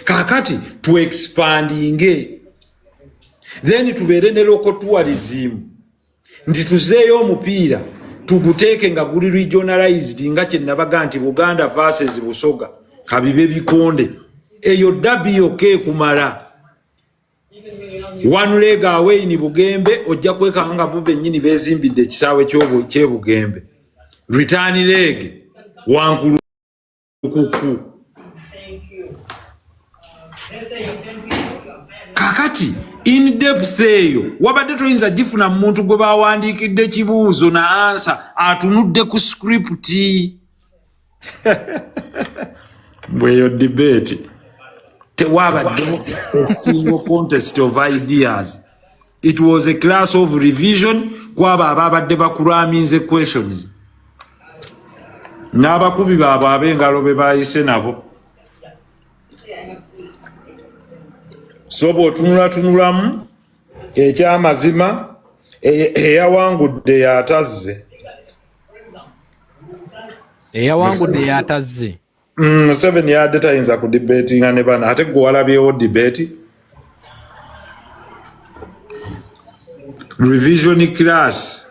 kakati tu expandinge then tubeere ne local tourism nti tuzeeyo omupiira tuguteeke nga guli regionalized nga kyenabaga nti buganda verses busoga kabibe bikonde eyo dabi yoka ekumala one leg away ni bugembe ojja kwekanga nga bo bennyini bezimbidde ekisaawe kyebugembe return leg wankulu kuku kakati in depth eyo wabadde toyinza gifuna mu muntu gwe bawandiikidde kibuuzo na ansa atunudde ku script bweyo debate tewabaddewo a single contest of ideas it was a class of revision kwabo ababadde bakuraminze questions n'abakubi baabwe ab'engalo be bayise nabo so bw'otunulatunulamu ekyamazima eyawangudde yatazze eyawangudde yatazze mm, museveni yadde tayinza ku debeti nga ne bana ate gwe walabyewo debeti revision class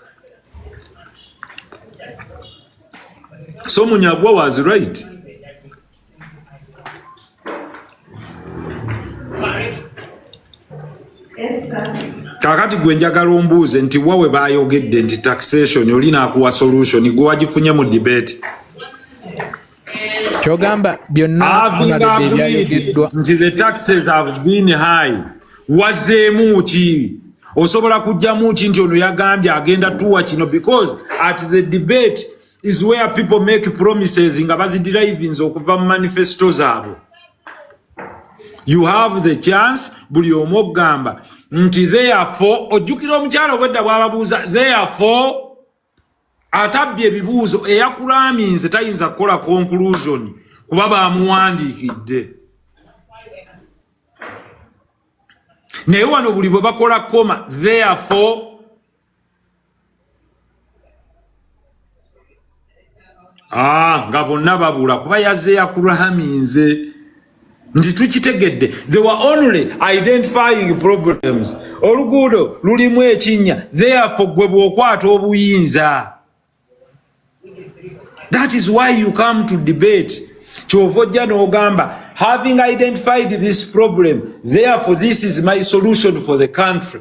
so munyagwa was right kakati gwe njagala ombuuze nti wawe bayogedde nti taxation oli nakuwa solution gwe wagifunye mu debate kyogamba byonnabyayogedwa nti the taxes have been high wazeemu ki osobola kujjamu ki nti ono yagambye agenda tuwa kino because at the debate is where people make promises nga bazidrivinze okuva mu manifesto zaabwe you have the chance buli omu okugamba nti therefore ojjukira omukyala obwedda bwababuuza therefore atabbye ebibuuzo eyakulaminze tayinza kukola conclusion kuba bamuwandiikidde naye wano buli bwe bakola koma therefore Ah, nga bonna babula kuba yazze yakurahaminze nti tukitegedde they were only identifying problems oluguudo lulimu ekinnya therefo gwe bw'okwata obuyinza that is why you come to debate kyova ojja n'ogamba having identified this problem therefo this is my solution for the country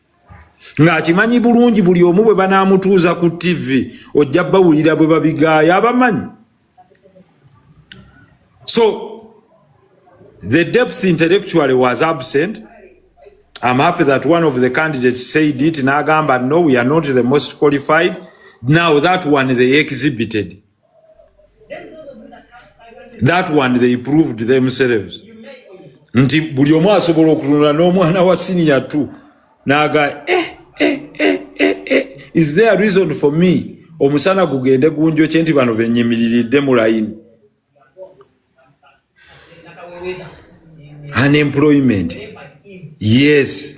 ng'akimanyi bulungi buli omu bwe banaamutuuza ku ttivi ojja bawulira bwe babigaaya abamanyi so the depth intellectually was absent am happy that one of the candidates said it n'agamba no we are not the most qualified now that one they exhibited that one they proved themselves nti buli omu asobola okutunula n'omwana wa siniya t naga eh, eh, eh, eh, eh. is there a reason for me omusana gugende gunjo kye nti bano benyimiriridde mu layini unemployment yes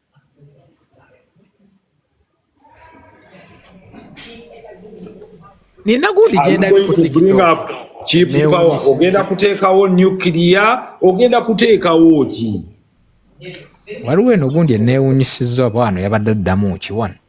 nina gundi gyendakipower ogenda kuteekawo nuclear ogenda kuteekawo ki waliwo eno gundi eneewunyisiza oba wano yabadde addamu kiwano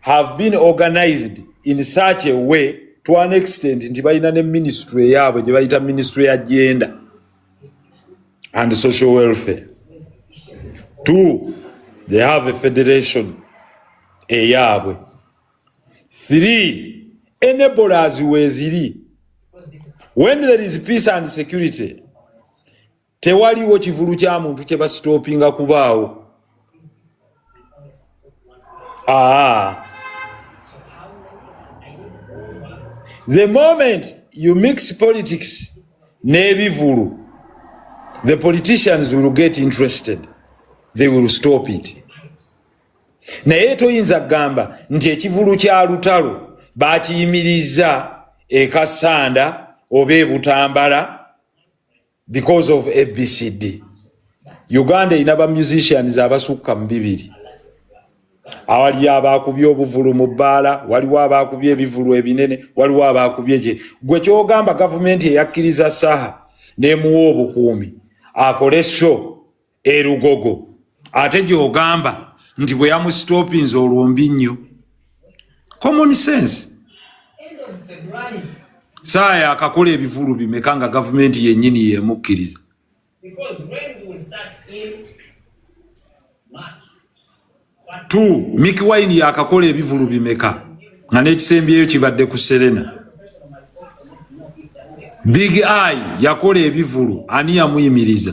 have been organized in such a way to an extent nti balina ne ministry eyaabwe gye bayita ministry ya genda and social welfare two they have a federation eyaabwe three enablers weeziri when there is peace and security tewaliwo kivulu kya muntu kye basitoopinga kubaawo aa the moment you mix politics n'ebivulu the politicians will get interested they will stop it naye toyinza kugamba nti ekivulu kya lutalo bakiyimiriza ekasanda oba ebutambala because of abcd uganda erina ba musicians abasukka mu bibiri awaliyo abaakubye obuvulu mu bbaala waliwo abaakubye ebivulu ebinene waliwo abaakubye gye gwe kyogamba gavumenti eyakkiriza saha nemuwa obukuumi akole sho e lugogo ate gyogamba nti bwe yamusitopinze olwombi nnyo common sense saaya akakola ebivulu bimeka nga gavumenti yennyini yemukkiriza t mik wine yakakola ebivulu bimeka nga n'ekisembyeyo kibadde ku serena big i yakola ebivulu ani yamuyimiriza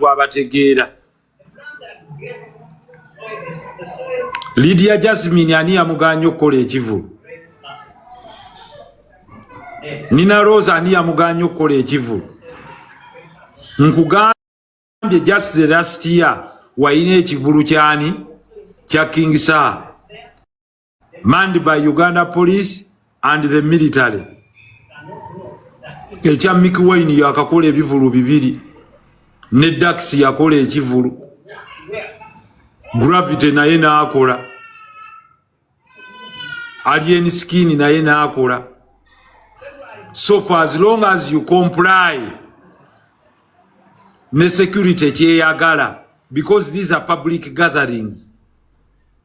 bwabategeera lidia jasmine ani yamuganya okukola ekivulu nina rose ani yamuganya okukola ekivulu nkugambye just the last year walina ekivulu kyani kya king saa manned by Uganda police and the military ekya Mickey Wine yakakola ebivulu bibiri ne Dax yakola ekivulu Gravity naye naakola Alien Skin naye naakola so for as long as you comply ne security kyeyagala because these are public gatherings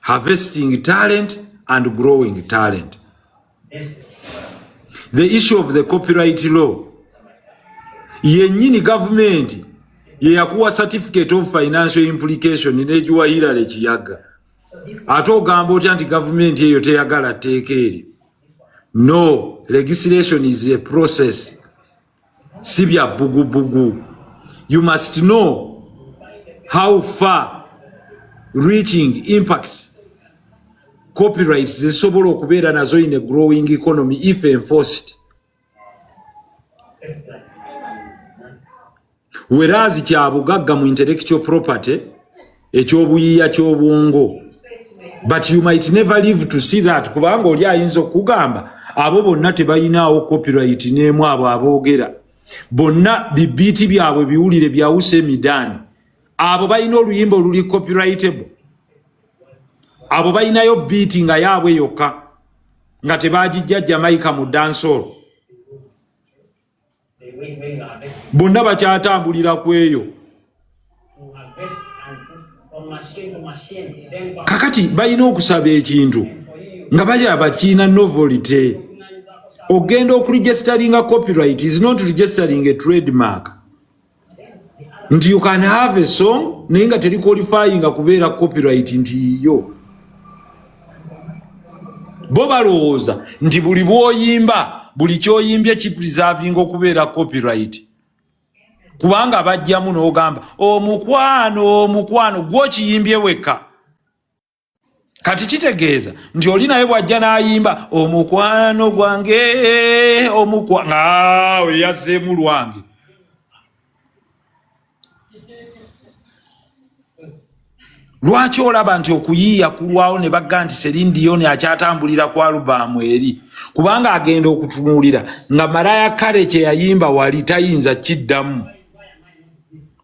harvesting talent and growing talent. The issue of the copyright law yenyini government yeyakuwa certificate of financial implication negiwa Hillary Kiyaga ate ogamba otya nti government eyo teyagala tteeka eryo no legislation is a process si bya bugubugu you must know how far reaching impacts copyrights zisobola okubeera nazo in a growing economy if enforced werazi kya bugagga mu intellectual property ekyobuyiya kyobwongo but you might never live to see that kubanga oli ayinza okugamba abo bonna tebayinaawo copyright neemu abo aboogera bonna bibiiti byabwe biwulire byawusa emidaani abo balina oluyimba oluli copyrightable abo balinayo biiti nga yaabwe yokka nga tebagijja jamaica mu dansol bonna bakyatambulira ku eyo kakati balina okusaba ekintu nga balira bakiina novolite ogenda okuregisteringa copyright is not registering a trademark nti you can have a song naye nga teri qualifyinga kubeera copyright nti yiyo bo balowooza nti buli bwoyimba buli kyoyimbye kipreservinga okubeera copyright kubanga bajjamu n'ogamba omukwano omukwano gwokiyimbye wekka kati kitegeeza nti oli naye bw'ajja n'ayimba omukwano gwange omukwa ngaawo eyazzeemu lwange lwaki olaba nti okuyiiya kulwawo ne bagga nti serindiyoni akyatambulira ku alubaamu eri kubanga agenda okutunuulira nga maraya kale kye yayimba wali tayinza kiddamu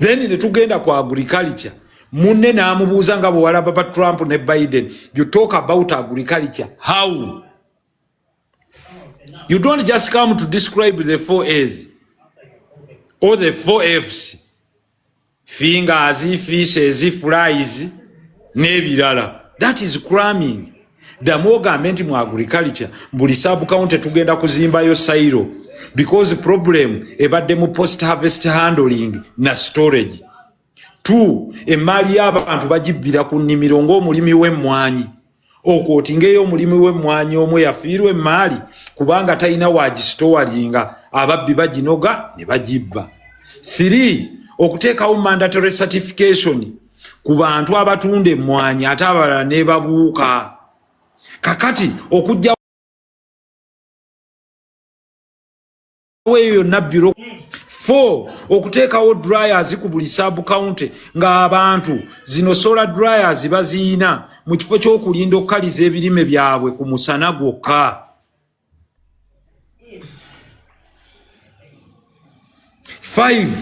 then ne tugenda ku agriculture munne n'amubuuza nga bwewalaba ba trump ne biden you talk about agriculture how you don't just come to describe the four as or the four fs fingers feces flies n'ebirala that is cramming ddamu ogambe nti mu agriculture buli subcounty tugenda kuzimbayo sairo because problem ebadde mu post harvest handling na storage t emaali y'abantu bagibbira ku nnimiro ng'omulimi w'emmwanyi okwotingeyo omulimu w'emmwanyi omu eyafiirwa emmaali kubanga talina waagisitowalinga ababbi baginoga ne bagibba thiri okuteekawo mandatory certification ku bantu abatunda emmwanyi ate abalala nebabuuka kakati okujja eyo yonna biro fo okuteekawo dryers ku buli sub county ng'abantu zino sola dryers baziyina mu kifo ky'okulinda okukaliza ebirime byabwe ku musana gwokka five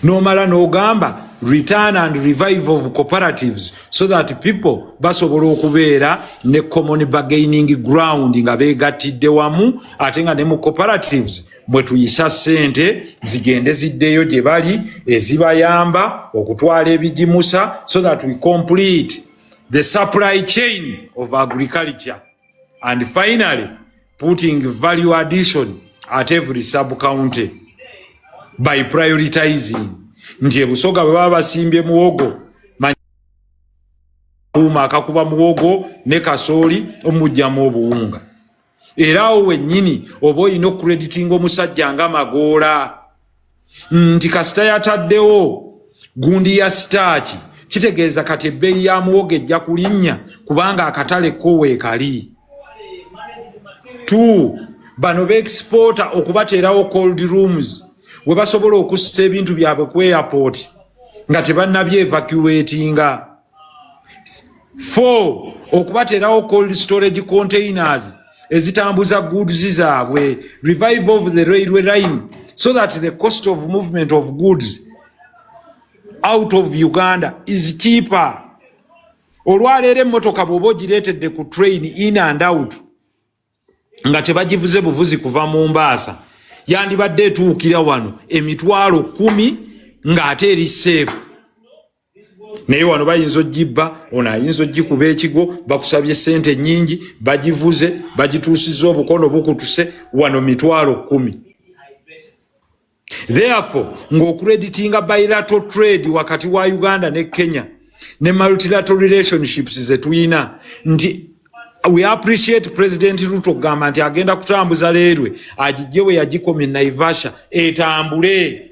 nomala nogamba return and revive of cooperatives so that people basobola okubeera ne common bargaining ground nga begattidde wamu ate nga ne mu cooperatives mwe tuyisa sente zigende ziddeyo gye bali ezibayamba okutwala ebigimusa so that we complete the supply chain of agriculture and finally putting value addition at every sub county by prioritizing nti ebusoga bwe baba basimbye muwogo uma akakuba muwogo ne kasooli omujjamu obuwunga era awo wennyini oba olina okukreditinga omusajja nga magoola nti kasita yataddewo gundi ya sitaaki kitegeeza kati ebbeeyi ya muwogo ejja kulinnya kubanga akatale ko weekali t bano beexpoota okubateerawo cold rooms we basobola okussa ebintu byabwe ku airport nga tebannabyevacuatinga Four, okubateerawo cold storage containers ezitambuza goods zaabwe revive of the railway line so that the cost of movement of goods out of uganda is cheaper olwaleero emmotoka bwoba ogireetedde ku train in and out nga tebagivuze buvuzi kuva mu mbaasa yandibadde etuukira wano emitwalo kumi ng'ate eri seefu naye wano bayinza ogibba ono ayinza ogikuba ekigo bakusabye sente nyingi bagivuze bagituusiza obukono bukutuse wano mitwalo kumi therefore ngaokureditinga bilato trade wakati wa uganda ne kenya ne multilato relationships zetuyina nti we appreciate president ruto okugamba nti agenda kutambuza leerwe agijje we yagikomye naivasha etambule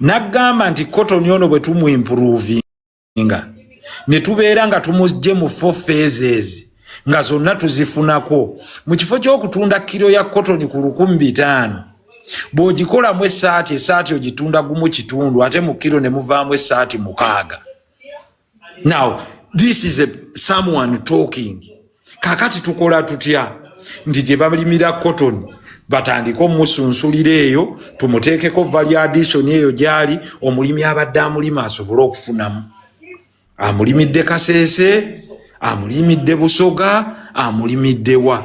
naggamba nti kotoni ono bwe tumuimpuruvinga ne tubeera nga tumugye mu fo phases nga zonna tuzifunako mu kifo ky'okutunda kiro ya kotoni ku lukumi bitaano bw'ogikolamu essaati essaati ogitunda gumu kitundu ate mu kiro ne muvaamu essaati mukaaga now this is a someone talking kakati tukola tutya nti gye balimira cotton batandike omusunsulira eyo tumuteekeko valiadisoni eyo gyali omulimi abadde amulima asobole okufunamu amulimidde kasese amulimidde busoga amulimiddewa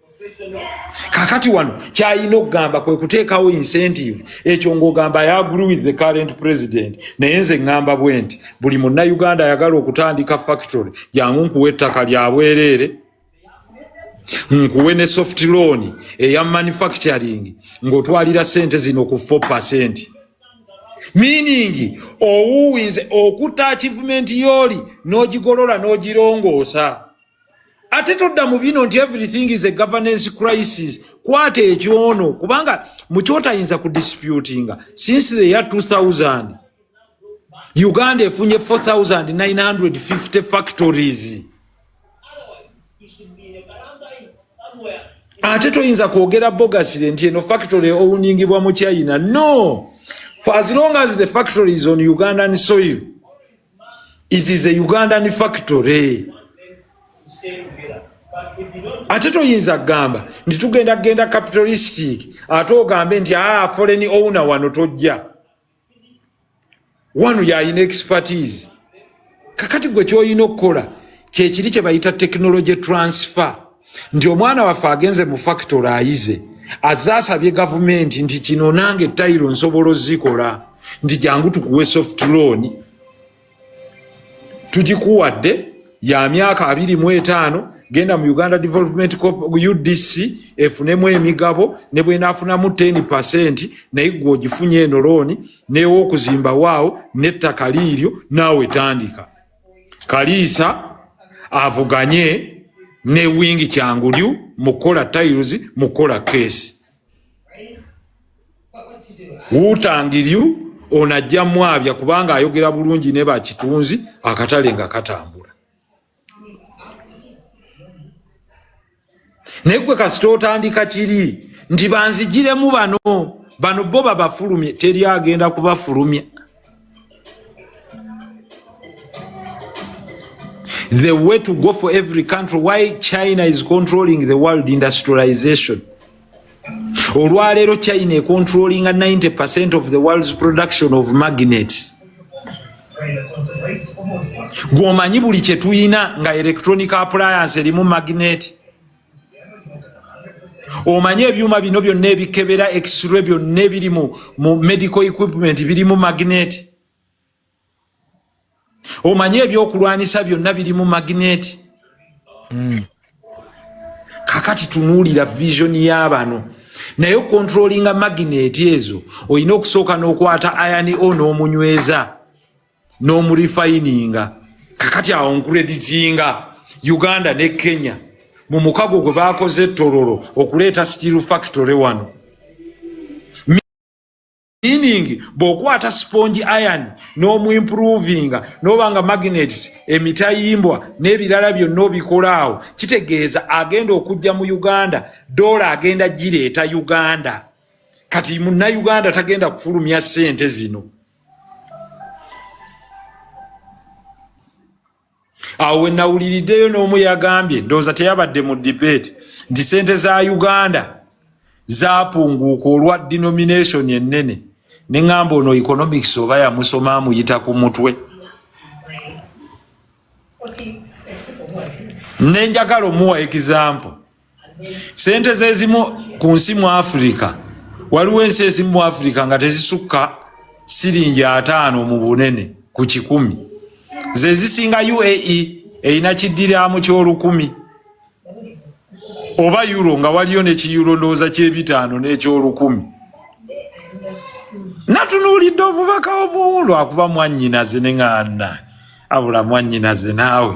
kakati wano kyalina okugamba kwe kuteekawo incentive ekyo ng'ogamba i agree with the current president naye nze ŋŋamba bwe nti buli munnayuganda ayagala okutandika factory jangu nkuwa ettaka lya bwereere nkuwe ne soft loan eya manufacturing ng'otwalira ssente zino ku 4 percent meaning owuwinze okutta achievement yooli n'ogigolola n'ogirongoosa ate todda mu bino nti everything is a governance crisis kwata ekyono kubanga mukyotayinza ku disputinga since the year 2000 uganda efunye 4950 factories ate toyinza kwogera bogasire nti eno factory owuningibwa mu china no for as long as the factory is on ugandan soil it is a ugandan factory ate toyinza kugamba nti tugenda kugenda capitalistic ate ogambe nti aa ah, foreign owner wano tojja wano yayina expertise kakati gwe kyolina okukola kyekiri kyebayita technology transfer nti omwana waffe agenze mu factory ayize aze asabye gavumenti nti kino nange tayiro nsobola ozikola nti jangu tukuwe soft loan tugikuwadde ya myaka abiri mu etaano genda mu uganda development udc efunemu emigabo ne bwenaafunamu 10 percent naye gwe ogifunye eno looni neewa okuzimba waawo n'ettaka liiryo naawe tandika kaliisa avuganye ne wingi kyangulyu mukola tiles mukola case wutangiryu ono ajja mwabya kubanga ayogera bulungi ne bakitunzi akatale nga katambula naye gwe kasita otandika kiri nti banzijiremu bano bano bo babafulumye teri agenda kubafulumya the way to go for every country why china is controlling the world industrialization olwaleero china econtrollinga 90 percent of the world's production of magnets gwomanyi buli kyetuyina nga electronic appliance erimu magnet omanyi ebyuma bino byonna ebikebera exre byonna ebiri mu medical equipment birimu magnet omanyi ebyokulwanyisa byonna birimu magneeti hmm. kakati tunuulira vision y'abano naye okontrolinga magneeti ezo olina okusooka n'okwata ayani o n'omunyweza n'omurifayininga kakati awo nkureditinga uganda ne kenya mu mukago gwe baakoze ettororo okuleeta steel factory wano meaning bw'okwata sponge iron n'omuimprovinga n'oba nga magnets emitayimbwa n'ebirala byonna obikola awo kitegeeza agenda okujja mu uganda doola agenda gireeta uganda kati munnauganda tagenda kufulumya ssente zino awo wenawuliriddeyo n'omu yagambye ndowooza teyabadde mu debate nti sente za uganda zapunguuka olwa denomination ennene ne ŋŋamba ono economics oba yamusoma amuyita ku mutwe nenjagala omuwa example sente zezimu ku nsi mu afirika waliwo ensi ezimu mu afirika nga tezisukka siringi ataano mu bunene ku kikumi zezisinga uae erina kiddiramu kyolukumi oba euro nga waliyo nekiyuro ndowooza kyebitaano nekyolukumi natunuulidde omubaka omuwulu akuba mwanyinaze neŋanda abula mwanyinaze naawe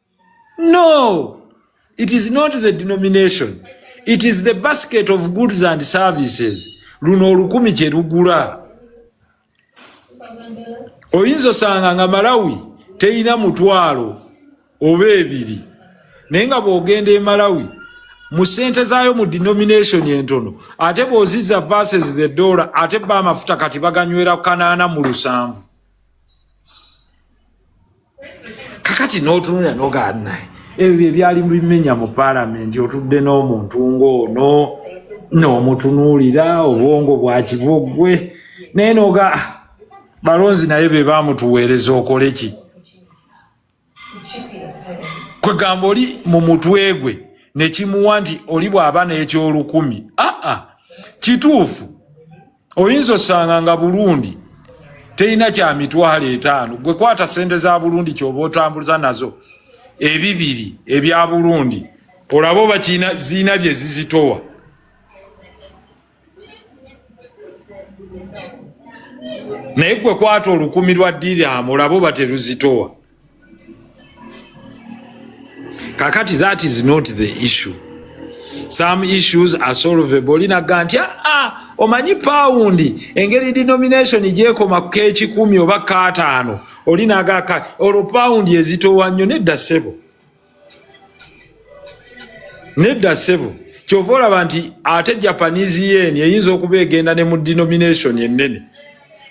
No, it is not the denomination. It is the basket of goods and services. Luno olukumi kye lugula. Oyinza osanga nga Malawi teyina mutwalo oba ebiri. Naye nga bw'ogenda e Malawi mu sente zaayo mu denomination entono ate bw'ozizza versus the dollar ate ba amafuta kati baganywera kanaana mu lusanvu. kakati n'otunulira nogaana ebyo byebyali bimenya mu paalamenti otudde n'omuntu ng'ono n'omutunuulira obwongo bwa kiboggwe naye noga ah, balonzi naye be bamutuweereza okole ki kwegamba oli mu mutwe gwe nekimuwa nti oli bwaba n'ekyolukumi aa kituufu oyinza osanga nga bulundi terina kya mitwalo etaano gwe kwata sente za bulundi kyoba otambuza nazo ebibiri ebya bulundi olaba oba ziina bye zizitowa naye gwe kwata olukumi lwa diramu labo bateruzitowa kakati that is not the issue some issues are solvable linaga nti aa ah, ah, omanyi pawundi engeri denomination gyekoma kekikumi oba kataano olinaga olwo pawundi ezitowa nnyo nedda ssebo nedda sebo kyova olaba nti ate japanese yen eyinza okuba egenda ne mu denomination ennene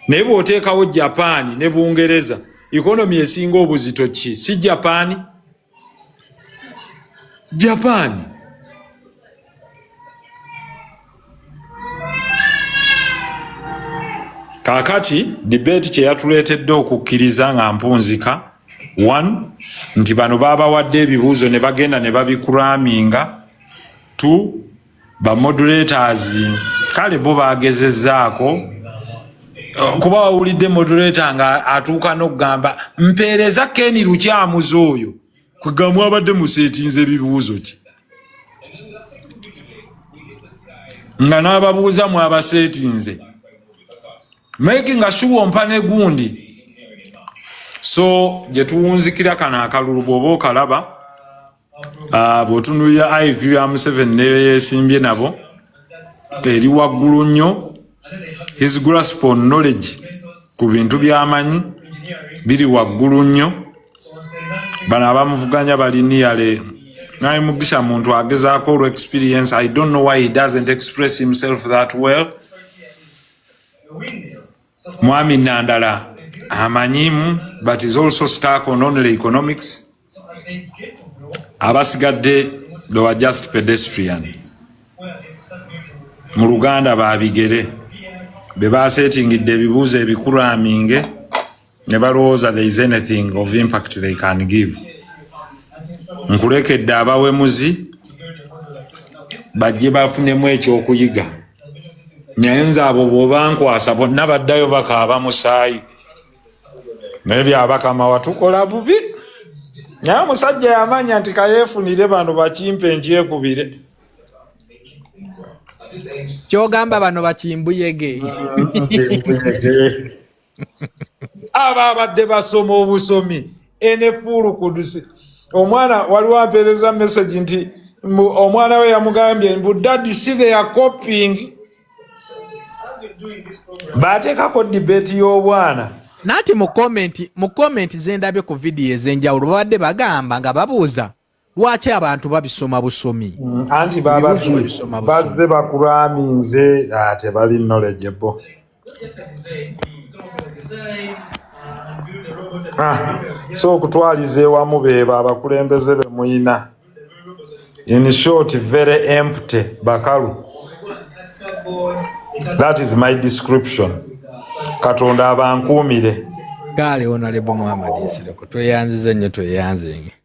naye bwoteekawo japaani ne bungereza economy esinga obuzito ki si japaani japaani kaakati dibeeti kye yatuleetedde okukkiriza nga mpunzika one nti bano baabawadde ebibuuzo ne bagenda ne babikuraminga two bamodulators kale bo baagezezzaako kuba wawulidde modulator nga atuuka n'okugamba mpeereza keni lukyamuzi oyo kwegamu abadde museetinza ebibuuzo ki nga n'ababuuza mwabaseetinze making sure ompa ne gundi so gye tuwunzikira kano akalulu bw'oba okalaba ah, bw'otunulira iv ya museveni neyo yesimbye nabo eri waggulu nnyo his grasp on knowledge ku bintu byamanyi biri waggulu nnyo bano abamuvuganya bali niyale naye mugisha muntu agezaako olw experience i don't know why he doesn't express himself that well Mwami Nandala amanyimu but is also stuck on only economics. Abasigadde they were just pedestrian. Mu Luganda babigere be baaseetingidde ebibuuzo ebikulu aminge ne balowooza there is anything of impact they can give. Nkulekedde abawemuzi bajje bafunemu ekyokuyiga. naye nze abo bwobankwasa bonna baddayo bakaaba musaayi naye byabakama watukola bubi naye omusajja yamanya nti kayefunire bano bakimpe nkyekubire kyogamba bano bakimbuyege aba abadde basoma obusomi enefuulu kudusi omwana waliwo ampeereza message nti omwana we yamugambye mbu dadi si they are copying baateekako debate y'obwana nati mu komenti mu komenti zendabye ku vidiyo ez'enjawulo babadde bagamba nga babuuza lwaki abantu babisoma busomi mm, anti babazze bakuraminze ah, tebali knowledgeable ah, so okutwaliza ewamu bebo abakulembeze bemuyina in short very empty bakalu that is my description katonda abankuumire gaale onalebo muhamadi nsireko tweyanziza nnyo tweyanzenge